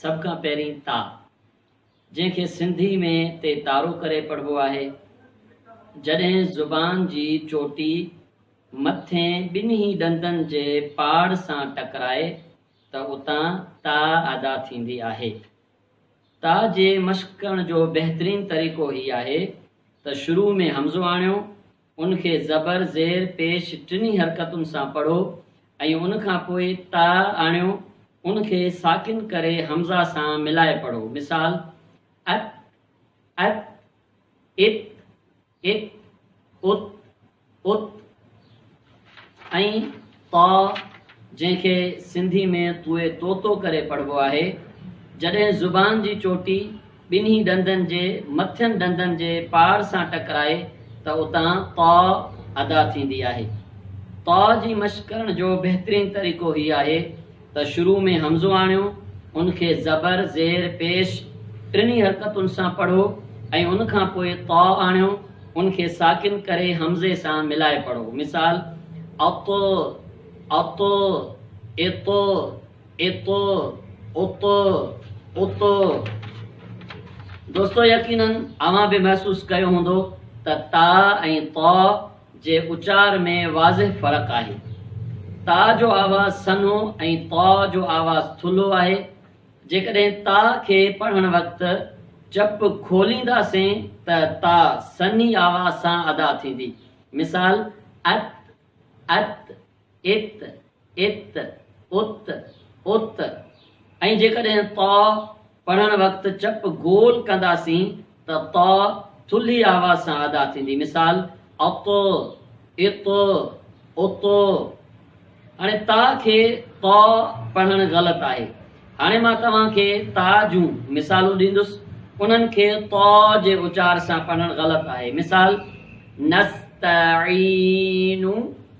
سڀ کان پهرين تاء، جنهن کي سنڌي ۾ تي تارو ڪري پڙهبو آهي، جڏهن زبان جي چوٽي مٿين ٻنهي ڏندن جي پاڙ سان ٽڪرائي ته اتان تاء ادا ٿيندي آهي. تاء جي مشق ڪرڻ جو بهترين طريقو هي آهي ته شروع ۾ همزو آڻيو ان کي زبر، زير، پيش ٽنهي حرڪتن سان پڙهو ۽ ان کان پوء تاء آڻيو، ان کي ساڪن ڪري همزه سان ملائي پڙهو، مثال، ات، ات، ات، ات، ات، ات. ۽ طاء جنهن کي سنڌي ۾ طوء طوطو ڪري پڙهبو آهي، جڏهن زبان جي چوٽي ٻنهي ڏندن جي مٿين ڏندن جي پار سان ٽڪرائي ته اتان طاء ادا ٿيندي آهي. طاء جي مشق ڪرڻ جو بهترين طريقو هي آهي. ته شروع ۾ همزو آڻيو، ان کي زبر، زير، پيش ٽنهي حرڪتن سان پڙهو ۽ ان کان پوء طاء آڻيو، ان کي ساڪن ڪري همزي سان ملائي پڙهو. مثال، اط، اط، اط، اط، اط، ات. دوستو يقينن اوهان به محسوس ڪيو هوندو ته تاء ۽ طاء جي اچار ۾ واضح فرق آهي. تاء جو آواز سنهو ۽ طاء جو آواز ٿلهو آهي. جيڪڏهن تاء کي پڙهڻ وقت چپ کولينداسين ته تاء سنهي آواز سان ادا ٿيندي. مثال، ات، ات. ات، ات، ات، ات ۽ جيڪڏهن ط پڙهڻ وقت چپ گول ڪنداسين ته ط ٿلهي آواز سان ادا ٿيندي. مثال، اط، اط، اط. هاڻي تاء کي ط پڙهڻ غلط آهي. هاڻي مان توهان کي تاء جون مثالون ڏيندس، انهن کي ط جي اچار سان پڙهڻ غلط آهي. مثال، نستعين،